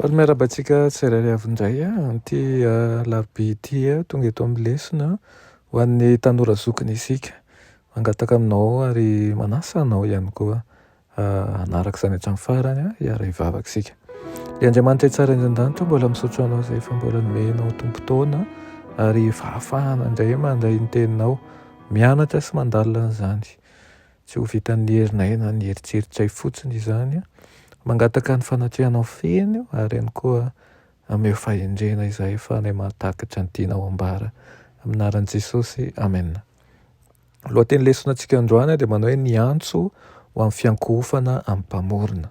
Faly miarahaba antsika tsirairay avy indray amin'ity alarobia ity tonga eto amin'ny lesona ho an'ny tanora zokiny isika. Mangataka aminao ary manasa anao ihany koa hanaraka izany hatramin'ny farany hiara hivavaka isika. Ry Andriamanitra Tsara indrindra an-danitra, mbola misaotra anao izay efa mbola nomey anao tombon-taona ary fahafahana indray mandray ny teninao, mianatra sy mandalina an'izany. Tsy ho vitan'ny herinay na ny heritreritr'ay fotsiny izany. Mangataka ny fanatrehanao feno aho ary ihany koa ameo fahendrena izahay fa anay mahatakatra ny tianao ambara. Amin'ny anaran'i Jesosy, amena. Ny lohateny lesona antsika androany dia manao hoe ny antso ho amin'ny fiankohofana amin'ny Mpamorona.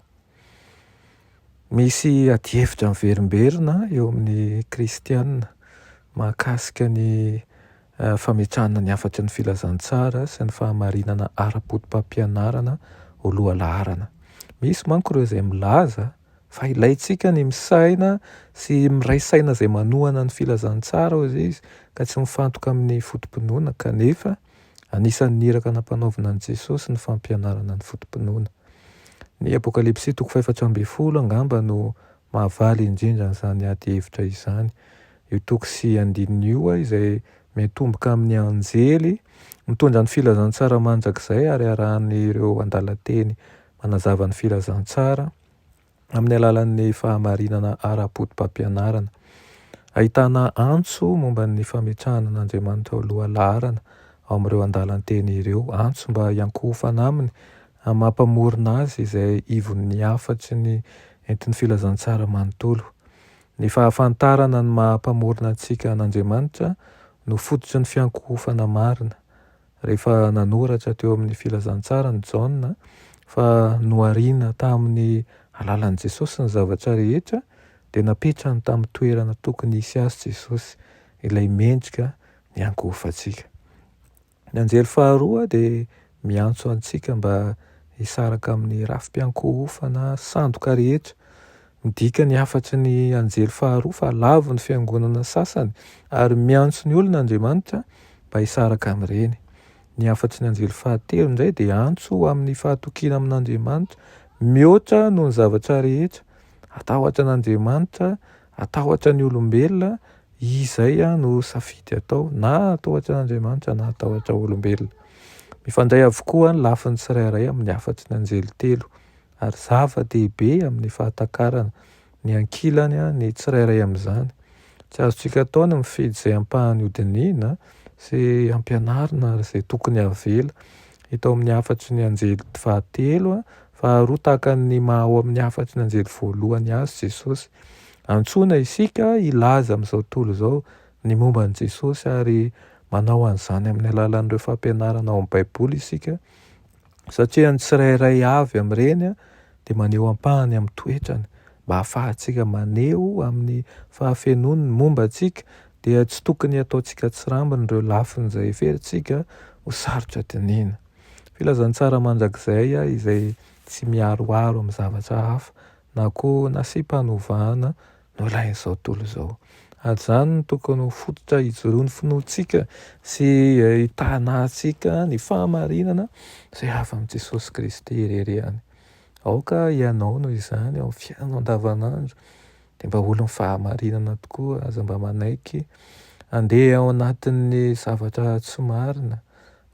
Misy adihevitra miverimberina eo amin'ny kristiana mahakasika ny Fametrahana ny hafatry ny filazantsara sy ny fahamarinana ara-potopampianarana ho lohalaharana. Misy manko ireo izay milaza fa ilaintsika ny misaina sy miray saina izay manohana ny filazantsara, hoy izy, ka tsy mifantoka amin'ny foto-pinoana, kanefa anisan'ny iraka nampanaovina an'i Jesosy ny fampianarana ny foto-pinoana. Ny Apokalypsy toko fahefatra ambin'ny folo angamba no Mahavaly indrindra an'izany ady hevitra izany io toko sy andininy io izay miantomboka amin'ny anjely mitondra ny filazantsara mandrakizay ary arahan'ireo andalan-teny manazava ny filazantsara amin'ny alalan'ny fahamarinana ara-potopampianarana. Ahitana antso momba ny fametrahana an'Andriamanitra ho lohalaharana ao amin'ireo andalan-teny ireo, antso mba hiankohofana aminy amin'ny maha-Mpamorona azy izay ivon'ny hafatry ny Entin'ny filazantsara manontolo. Ny fahafantarana ny maha Mpamorona antsika an'Andriamanitra no fototry ny fiankohofana marina. Rehefa nanoratra teo amin'ny filazantsarany Jaona fa nohariana tamin'ny alalan'i Jesosy ny zavatra rehetra, dia napetrany tamin'ny toerana tokony hisy azy Jesosy, ilay mendrika niankohofantsika. Ny anjely faharoa dia miantso antsika mba hisaraka amin'ny rafi-piankohofana sandoka rehetra. Midika ny hafatry ny anjely faharoa fa lavo ny fiangonana sasany, ary miantso ny olona Andriamanitra mba hisaraka amin'ireny. Ny hafatry ny anjely fahatelo indray dia antso ho amin'ny fahatokiana amin'Andriamanitra mihoatra noho ny zavatra rehetra. Hatahotra an'Andriamanitra. Atahotra ny olombelona, izay no safidy atao, na atahotra an'Andriamanitra na atahotra olombelona. Mifandray avokoa ny lafiny tsirairay amin'ny hafatry ny anjely telo, ary zava-dehibe amin'ny fahatakarana ny ankilany ny tsirairay amin'izany. Tsy azontsika atao ny mifidy izay ampahany hodinihina sy ampianarina ary izay tokony havela hita ao amin'ny hafatry ny anjely fahatelo, faharoa tahaka ny maha ao amin'ny hafatry ny anjely voalohany azy Jesosy. Antsoina isika hilaza amin'izao tontolo izao ny momba an'i Jesosy ary manao an'izany amin'ny alalan'ireo fampianarana ao amin'ny Baiboly isika, satria ny tsirairay avy amin'ireny dia maneho ampahany amin'ny toetrany. Mba hahafahantsika maneho amin'ny fahafenoany ny momba antsika, dia tsy tokony hataontsika tsirambina ireo lafiny izay heverintsika ho sarotra dinihina. Filazantsara mandrakizay izay tsy miharoharo amin'ny zavatra hafa na koa nasiam-panovana nolain'izao tontolo izao. An'izany no tokony ho fototra hijoroan'ny finoantsika sy hitahanantsika ny fahamarinana izay avy amin'i Jesosy Kristy irery ihany. Aoka hianao noho izany ao amin'ny fiainanao andavanandro dia mba olon'ny fahamarinana tokoa, aza mba manaiky handeha ao anatin'ny zavatra tsy marina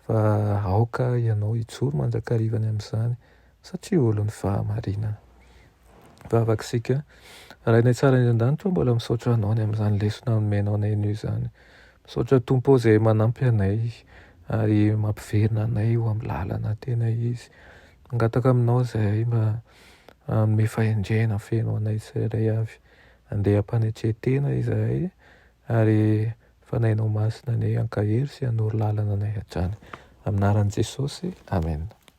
fa aoka hianao hijoro mandrakariva any amin'izany. satria olon'ny fahamarinana. Vavak'isika. Ray any an-tsarany any an-danitra ô, mbola misaotra Anao ny amin'izany lesona nomenao anay anio izany. Misaotra Tompo ô izay manampy anay ary mampiverina anay eo amin'ny lalana tena izy. Mangataka Aminao izahay mba hanome fahendrena feno anay tsirairay avy. Andeha am-panetren-tena izahay ary Fanahinao Masina anie hankahery sy hanoro lalana anay hatrany. Amin'ny anaran'i Jesosy, Amena.